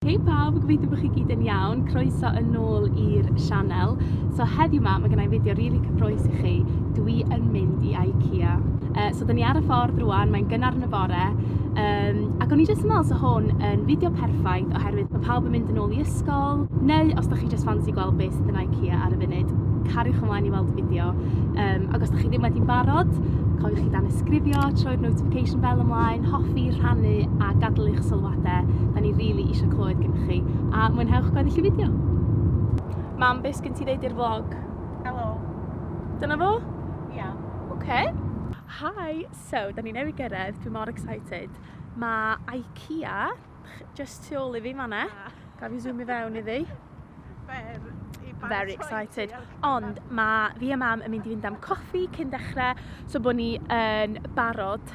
Hei pawb, gobeithio bod chi gyd yn iawn, croeso yn ôl i'r sianel. So heddiw ma, mae gennau fideo rili really cyffroes i chi, dwi yn mynd i IKEA. Uh, so dyn ni ar y ffordd rwan, mae'n gynnar yn y bore, um, ac o'n i jyst yn meddwl so hwn yn fideo perffaith oherwydd mae pawb yn mynd yn ôl i ysgol, neu os da chi jyst fancy gweld beth sydd yn IKEA ar y funud, cariwch ymlaen i weld y fideo. Um, ac os da chi ddim wedi'n barod, cofiwch chi dan ysgrifio, troi'r notification bell ymlaen, hoffi, rhannu a gadw eich sylwadau a de, da ni rili really eisiau clywed gen chi, a mwynhewch gweddill y fideo. Mam, beth sgyn ti ddeud i'r vlog? Helo. Dyna fo? Ia. Yeah. Oce. Okay. Hi, so, da ni newydd gyrraedd, dwi mor excited. Mae IKEA, just tu ôl i fi fanna. Ah. Gaf i zoom i fewn iddi. Very excited. Ond mae fi a mam yn mynd i fynd am coffi cyn dechrau, so bod ni yn barod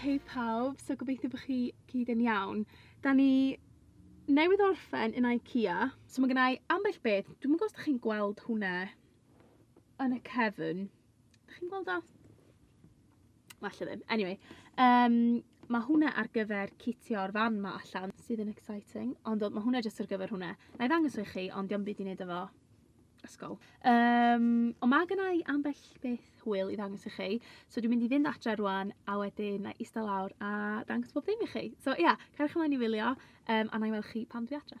Hei pawb, so gobeithio bod chi gyd yn iawn. Da ni newydd orffen yn IKEA, so mae gennau ambell beth, dwi'n gwybod os chi'n gweld hwnna yn y cefn. Da chi'n gweld o? Falle ddim. Anyway, um, mae hwnna ar gyfer citio'r fan ma allan sydd yn exciting, ond mae hwnna jyst ar gyfer hwnna. Na i ddangos i chi, ond diolch byd i wneud efo ysgol. Um, ond mae gen i ambell beth hwyl i ddangos i chi, so dwi'n mynd i fynd adre rwan a wedyn na i eistedd lawr a dangos bob ddim i chi. So ia, yeah, cerwch ymlaen i wylio um, a na i weld chi pan dwi adre.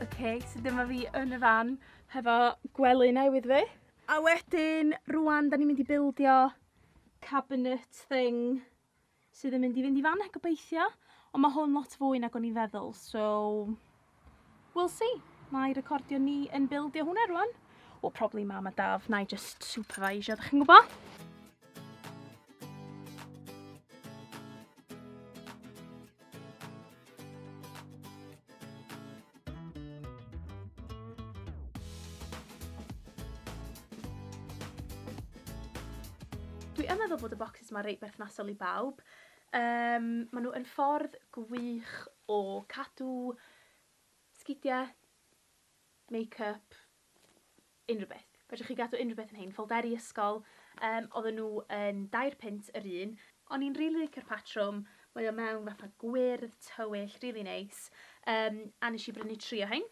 Oce so dyma fi yn y fan hefo gwely newydd fi. A wedyn rŵan 'dan ni'n mynd i bildio cabinet thing sydd yn mynd i fynd i fan 'na gobeithio, ond mae hwn lot fwy nag o'n i'n feddwl, so we'll see. Mae recordio ni yn bildio hwnna rwan. Wel, probably mam a daf, na i just supervisio, ydych chi'n gwybod? Mae reit berthnasol i bawb. Yym, maen nhw yn ffordd gwych o cadw sgidiau, make-up, unrhyw beth. Fedrwch chi gadw unrhyw beth yn hein. Ffolderi ysgol, yym, oedden nhw yn dair punt yr un. O'n i'n rili licio'r patrwm, mae o mewn fatha gwyrdd tywyll, rili neis. Yym, a wnes i brynu tri o hein.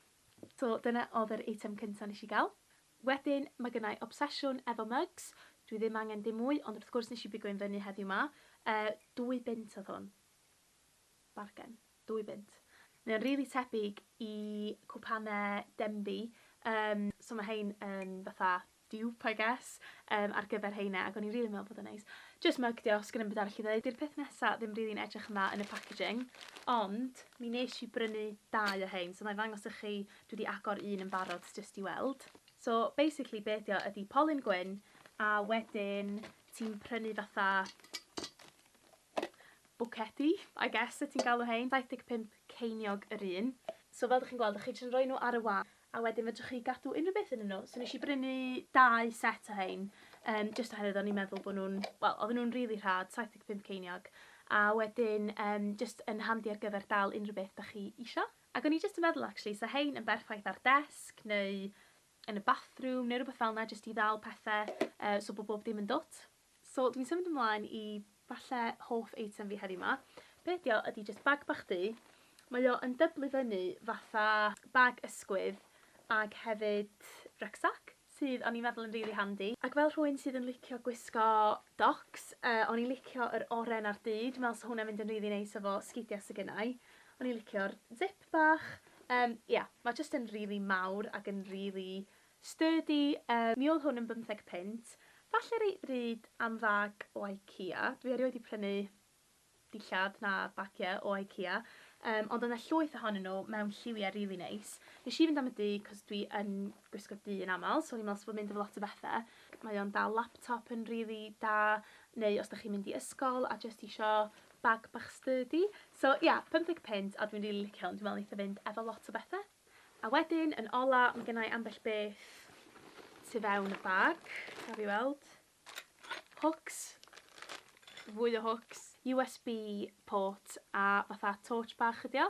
So, dyna oedd yr eitem cyntaf wnes i gael. Wedyn ma gynna i obsesiwn efo mugs, dwi ddim angen dim mwy ond wrth gwrs nes i bigo un fyny heddiw ma. Yy dwy bunt oedd hwn. Bargen. Dwy bunt. Mae o'n rili tebyg i cwpane Denby yym so ma rhein yn fatha dupe I guess yym ar gyfer rheine ac o'n i'n rili meddwl bod o'n neis. Jyst mug dio, sgenna i'm byd arall i ddeud. Di'r peth nesa ddim rili'n edrych yn dda yn y packaging ond mi nes i brynu dau o rhein so nai ddangos i chi Dwi 'di agor un yn barod s jyst i weld. So basically be ydi o ydi polyn gwyn a wedyn ti'n prynu fatha bwcedi I guess yt ti'n galw rhein, 75 ceiniog yr un. So fel dych chi'n gweld dych chi jyst yn rhoi nhw ar y wal a wedyn fedrwch chi gadw unrhyw beth ynnyn nhw. So nes i brynu dau set o rhein yym jyst oherwydd o'n i'n meddwl bod nhw'n, wel oedden nhw'n rili rhad, 75 ceiniog a wedyn yym jyst yn handi ar gyfer dal unrhyw beth dych chi isio. Ac o'n i jyst yn meddwl actually 'sa hein yn berffaith ar desg neu yn y bathroom neu rwbeth fel 'na jyst i ddal pethe yy so bo' bob dim yn dwt. So dwi'n symud ymlaen i falle hoff eitem fi heddiw 'ma. Be' ydi o ydi jyst bag bach du, mae o yn dyblu fyny fatha bag ysgwydd ag hefyd rucksack. sydd o'n i'n meddwl yn rili handi. Ac fel rhywun sydd yn licio gwisgo docs, yy o'n i'n licio yr oren a'r du, dwi'n meddwl 'sa hwnna'n mynd yn rili neis efo sgidia sy gynna i. O'n i'n licio'r zip bach. Yym ia, ma' jyst yn rili mawr ac yn rili sturdy. Yy mi o'dd hwn yn bymtheg punt, falle reit ddrud am fag o Ikea. Dwi erioed 'di prynu dillad na bagiau o Ikea yym ond oedd 'na llwyth ohonyn nhw mewn lliwiau rili neis. Nes i fynd am y du 'c'os dwi yn gwisgo du yn amal so o'n i'n me'wl sa fo'n mynd efo lot o bethe. Mae o'n dal laptop yn rili da neu os 'dach chi'n mynd i ysgol a jyst isio bag bach sturdy. So ia, pymtheg punt a dwi'n rili licio hwn, dwi'n me'wl neith o fynd efo lot o bethe. A wedyn yn ola ma' gynna i ambell beth tu fewn y bag, gaf fi weld. Hwcs. Fwy o hwcs. USB port a fatha torch bach ydi o.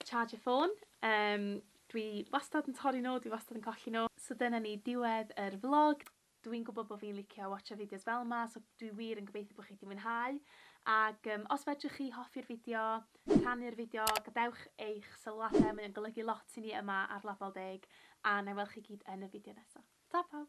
Charger ffôn. Yym dwi wastad yn torri nhw, dwi wastad yn colli nhw. So dyna ni, diwedd yr vlog. Dw i'n gwybod bod fi'n licio watsio fideos fel 'ma so dwi wir yn gobeithio bod chi 'di mwynhau ac yym os fedrwch chi hoffi'r fideo, rhannu'r fideo, gadewch eich sylwadau, mae o'n golygu lot i ni yma ar Label Deg a wna i weld chi gyd yn y fideo nesaf. Ta pawb!